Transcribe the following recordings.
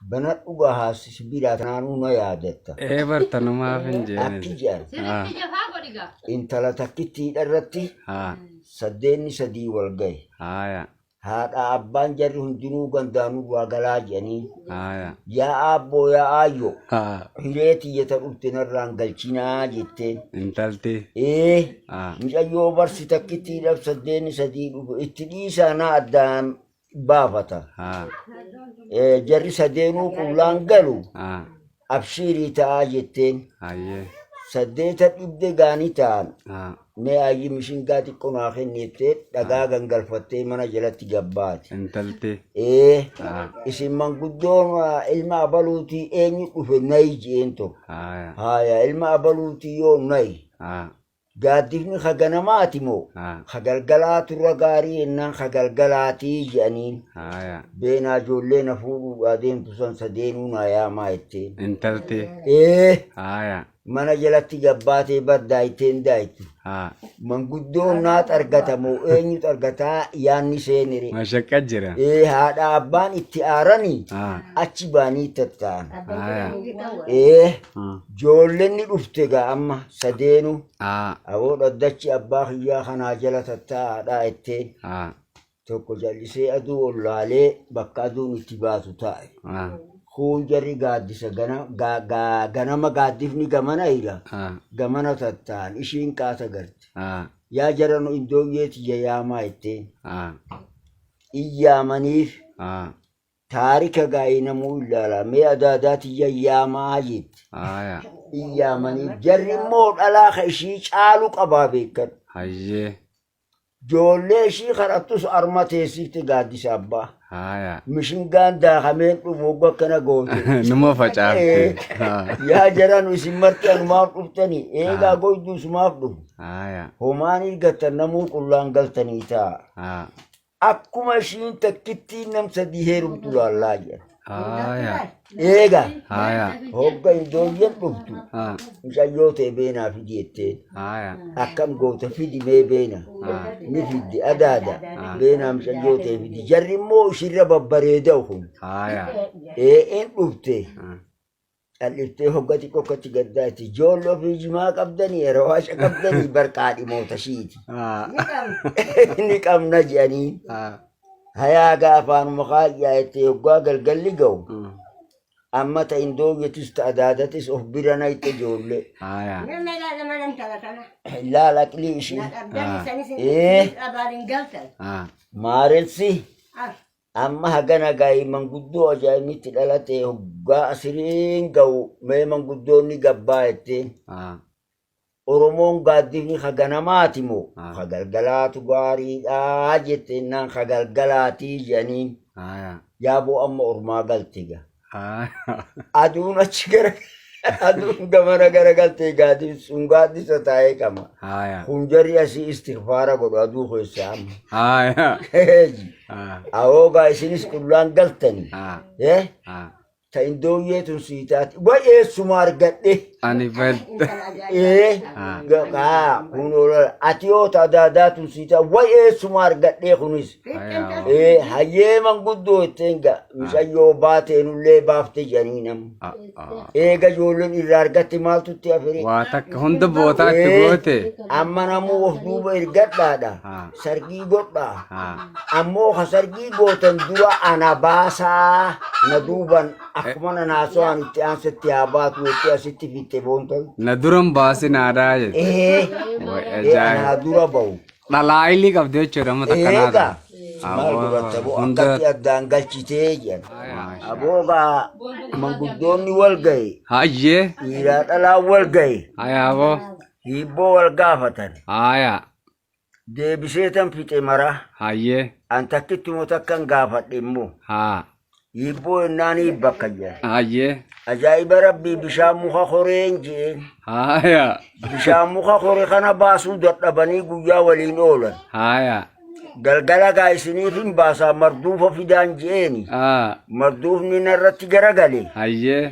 Banadhu gahaa sibiilaa tanaanuu na yaadatta. Ee bar tanumaaf hin jeene. Akki jedhan Sirriitti jafaa godhi gaa. intala takkittiidha irratti Haa saddeenni sadii wal gahe. haaya Haadha abbaan jarri hundinuu gandaanuu waa galaa jedhanii haaya yaa aabboo yaa aayyoo haa hiree tiyyata dhufte narraan galchinaa jetteen. intalti Ee haa mucayyoo barsi takkittiidhaaf saddeenni sadii dhufe itti dhiisaa na addaan baafata haa Eh, jarri sadeenuu qullaan galu haa abshiirii ta'aa jetteen hayyee saddeeta dhibde gaanii ta'an haa mee ayyi mishingaa xiqqoo naa kennittee dhagaa gangalfattee mana jalatti gabbaate intaltee ee haa isin manguddoon ah, ilma abaluutii eenyu dhufe nayi je'een tokko haa haaya ilma abaluutii yoo nayi haa Gaaddifni ka ganamaati moo ka galgalaatu irra gaarii jennaan ka galgalaati jedhaniin. Beenaa ijoollee na fuudhuudhaa deemtu san sadeenuu naa yaamaa jetteen. Intalti. Ee mana jalatti gabbaatee bar daayteen daaytu. Manguddoon naa xargata moo eenyu xargataa yaanni seenire. Mashaqqa jira. Ee haadha abbaan itti aaranii achi baanii tatta'an. Ee. Ah. Joolleen ni dhufte egaa amma sadeenu Ah. aboo dhaddachi abbaa kiyyaa kanaa jala tattaa'aadhaa jetteen Ah. tokko jallisee aduu ol laalee bakka aduun itti baatu taa'e. Ah. Kuun jarri gaaddisa gana, gaa, gaa, ganama gaaddifni gamana hira Ah. gamana tattaan ishiin qaata garte. Ah. Yaa jara nu iddooyyee tiyya yaamaa jetteen Ah. in yaamaniif Ah. Taarika gaa inamuu illaala. Mee adaadaa tiyya yaamaa jette. Haaya. Hin yaamaniif. Jarri immoo dhalaa ka ishii caalu qabaa beekan. Hayyee. Joollee ishii kadhattus arma teessifte gaaddisa abbaa. Haaya. Mishingaan daakameen dhufu oggu akkana goote. Numa facaafte. Haa. Yaa jaranu isin marti anumaaf dhuftanii eegaa goyduu sumaaf dhufu. Haaya. Homaan irgattan namuu qullaan galtanii taa. Haa. Akkuma ishiin takkittiin nam sadii heerumtu laallaa jedha. Haaya. Eega Haaya. hogga indooyyan dhuftu Haa. mucayyoo ta'e beenaa fidi jetteen. Haaya. Akkam goota fidi mee beena. Haa. Ni fiddi adaada Ah. beenaa mucayyoo ta'e fidi. Jarri immoo ishirra babbareeda'u kun. Haaya. Ee in dhufte. Haa. Calliftee hogga xiqqoo akkatti gaddaa itti ijoollee ofii jimaa qabdanii yeroo haasha qabdanii barqaa dhimoota shiiti. Ni qabna jedhanii hayaa gaafaanuma kaayyaa itti hoggaa galgalli ga'u. Amma ta indoogetis ta adaadatis of bira na itti ijoollee. Laal aqlii ishii. Maaressi Amma hagana ga'i manguddoo ajaa'ibni itti dhalate hoggaa asiriin ga'u mee manguddoonni gabbaa jetteen. Haa. Oromoon gaaddifni ka ganamaati moo Haa. ka galgalaatu gaariidhaa jetteennaan ka galgalaatii jedhaniin Haa. yaaboo amma ormaa galte ga. Aduun achi gara aduun gamana gara galtee gaadiin sun gaaddisa taa'ee qaba. Kun jarri asii istigfaara godhu aduu keessaa amma. Awoogaa isinis qullaan galtani. Ta indooyyee tun sii taate. Baay'ee suma argadhe. Ani fed. Ee. Haa kun oola. Ati yoo ta daadaa tun sii taate. Baay'ee suma argadhe kunis. Eh, hayyee manguddoo ittiin ga micayyoo baateenullee baafte jedhanii nam. Eega ijoolleen irraa argatte maaltu itti afire? Waa takka hunda bootaa itti Eh, goote. Amma namuu of duuba ergadhaadha. Ah. Sargii godhaa. Ah. Ammoo ka sargii gootan dura ana baasaa na duuban akkuma na naasawaan itti aansatti haa baatu jettee asitti fitte boontan. Na duran baasi naadaa jette. Eh, Way eh, anaa ajaa'iba. dura bahu. Dhalaayilii qabdee jechuudha amma takka naa Eegaa ta'a. maal Aboo godhatta aboo hunda akkatti addaan galchitee jedhan. maashaa. Aboo gaa manguddoonni wal ga'e Hayyee dhiiraa dhalaan wal ga'e haya aboo hiibboo wal gaafatan haya deebisee tan fixe maraa hayyee an takkittumoo takkan gaafadhe immoo haa Hiibboo hennaan hiibba akka jedhan. Hayyee. Ajaa'iba rabbii bishaan muka koreen je'een. Haaya. Bishaan muka kore kana baasuu dadhabanii guyyaa waliin oolan. Haaya. Galgala gaa isiniif hin baasaa marduufa fidaan je'eeni. Aa. Marduufni narratti garagale. Hayyee.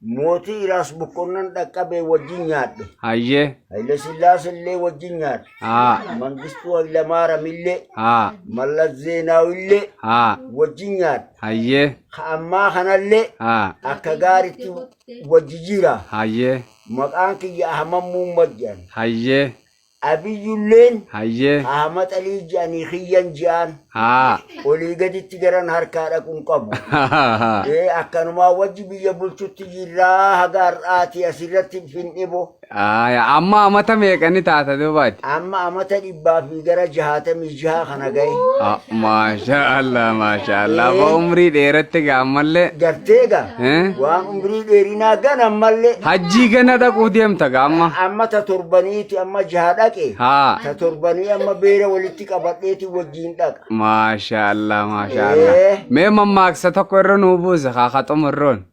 Mootii Iraas Boqonnan dhaqqabee wajjin nyaadhe. Hayyee. Haile Sillaas illee wajjin nyaadhe. Haa. Mangistuu Hailamaaram illee. Haa. Mallas Zeenaaw illee. Haa. Wajjin nyaadhe. Hayyee. Ka ammaa kanallee. Haa. Akka gaaritti wajji jira. Hayyee. Maqaan kiyya Ahmad Muummad jedhan. Hayyee. Abiyyulleen Hayyee. qaama xalii ji'anii kiyyan ji'aan Haa. olii gaditti garan harkaa dhaqu hin qabu. Ee akkanumaa wajji biyya bulchutti jirraa haga har'aati asirratti findhibo. Aya, Amma amata meeqani taata duubaati? Amma amata dhibbaa fi gara jahaatamii jaha kana gahe Ah, Maasha Allah, maasha Allah. Abbaa umrii dheeratte gaa ammallee. gartee gaa Eh? waan umrii dheerinaa gan ammallee Hajjii gana dhaquu deemta gaa amma. amma ta torbaniiti amma jaha dhaqe Haa. ta torbanii amma beera walitti qabadheeti wajjiin dhaqa Maasha Allah, maasha Allah. Eh. Mee mammaaksa tokko irra nuu buuse haa haa xumurroon.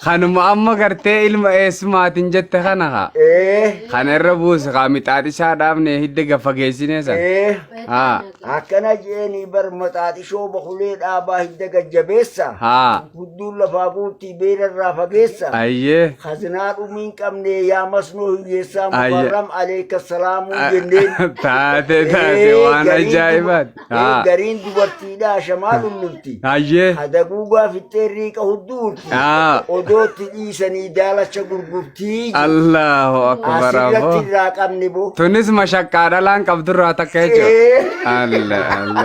Kanuma amma gartee ilma eessumaatiin jette kana haa. Ee. Kana irra buusi haa mixaaxishaa dhaabne hidda gafageessinee sana. Ee. Haa. Akkana jeeni bar maxaaxishoo bakulee dhaabaa hidda gajjabeessa. Haa. Gudduun lafaa guutti beela irraa fageessa. Ayyee. Hazinaa dhumii hin qabne yaa masnoo hiyyeessaa Ayya. mukarram aleeka salaamuu jenneen. Taate taate Ee, waan gariin ajaa'ibaati. Haa. Gariin dubartiidhaa shamaa lullufti. Hayyee. Hadaguugaa fixxee riiqa hudduu urti. Haa. Odootti dhiisanii daalacha gurgurtii. jedhu. Allahu akbar Asirratti aboo. irraa qabni boo. Tunis mashaqqaa dhalaan qabdurraa takka jechuudha. Ee. Allah Allah.